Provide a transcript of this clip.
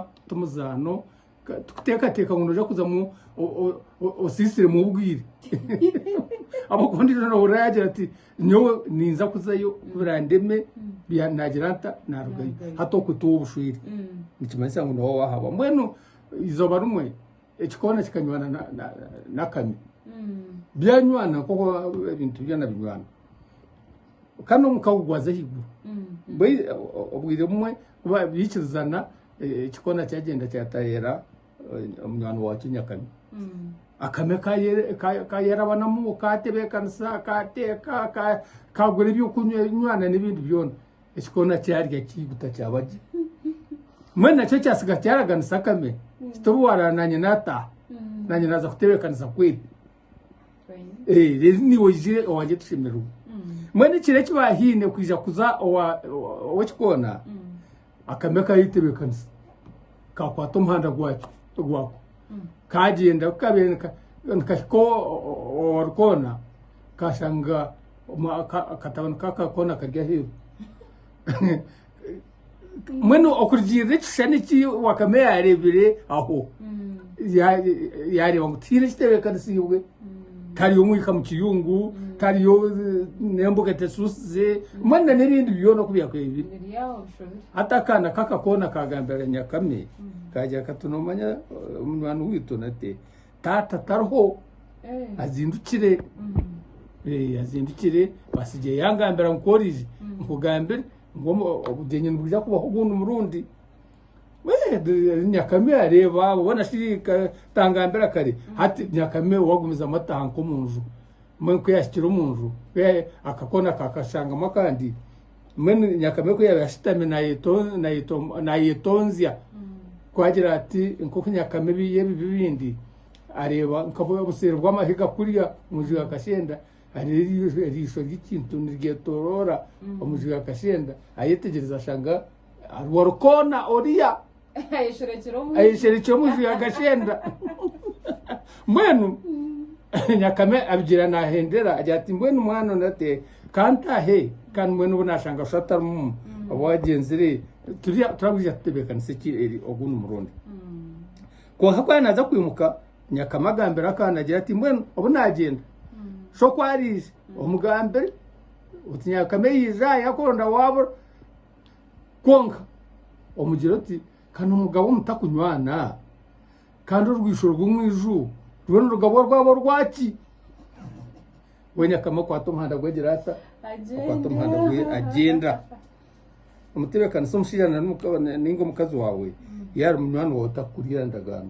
ti muzaano tikuteekateeka ngu nooja kuzamu osiisiremu obwire ahabw'okuba ondiijo noohurira yaagira ati nyowe ninza kuzayo birandeme naagira nta naarugayo hati okwo tiwe obushwire nikimanyisa ngu niwe waahabwa mbwenu eizooba rimwe ekikoona kikanywana n'akame byanywana nk'oku ebintu byona binywana kandi omuka gugwaza ahaiguru obwire bumwe Ku baabiikirizana, ekikoona kyagyenda kyatayeera munywani waakyo nyakame. Akame ka yaaraba n'amuuka, kaatebeekanisa, kaateeka, kaagura eby'okunywa n'ebindi byona, ekikoona kyarya kiiguta kyaba gye. Mbwenu nakyo kyatsiga kyaraganisa akame kiti obu waaraara naanye naataaha, naanye naaza kutebeekanisa kwetu. Eh, rero niwe oije owangye tushemererwe mwene ekiro eki bahiine kwija kuza owa- owa- ow'ekikoona akame kayetebekanisa kakwata omuhanda gwakyo gwako kagyenda kukabeera nika- nikahika o- o- owarikoona kashanga omu- aka- akatabani k'akakoona kari aheeru mbwenu okurugiirira ekishushani eki wakame yaareebire aho yaareeba ngu tihaine ekitebeekanisiibwe tariyo omwika mu kiyungu tariyo n'embuga etesuusize mbwenu n'ebindi byona oku byakubaire biri hati akaana kaka koona kaagambira nyakame kaagira kati noomanya munywani waitu nate taata tariho azindukire azindukire basigye yaangambira ngu ku oriija nkugambire ngu omu- obugyenyi nibwija kubaho ogundi murundi Eh, de- nyakame areeba abo bona shi ka- tangambira kare hati nyakame wagumizamu atahanka omu nju mbwenu ku yaahikire omu nju ku ya- akakoona kakashangamu akandi mbwenu nyakame ku yaabaire ashutami nayeto- nayeto- nayetonzya ku agira ati nk'oku nyakame ebi- y'ebibi ebindi areeba nk'obu obuseeri bw'amahiga kuriya omu nju ya kashenda Hariho eriisho ry'ekintu niryetoroora omuju ya Kashenda. Ayetegyereza ashanga hariho orukoona oriya ayesherekire omuju ya Kashenda. Mbwenu Nyakame abigira nahendera agira ati mbwenu mwana onu ati kantahe kandi mbwenu obu nashanga sho atarimu obu agyenzire turabwija tutebeekanise ki eri ogundi murundi. Kwonka ku yaaza kwimuka Nyakama agambira akaana agira ati, Mbwenu obu naagyenda, sha oku ariija omugambire oti Nyakama eyiija aha yakuronda waabura. Kwonka omugire oti, Ka n'omugabo mutakunywana, kandi orwisho rw'omu iju rwona orugabo rwaba orwaki? We Nyakama akwata omuhanda gwe agira ata? Akwata omuhanda gwe agyenda. Omutebeekanisa omushaija nainga omukazi waawe yaaba ari munywani waawe tarikukuriira ndagaano.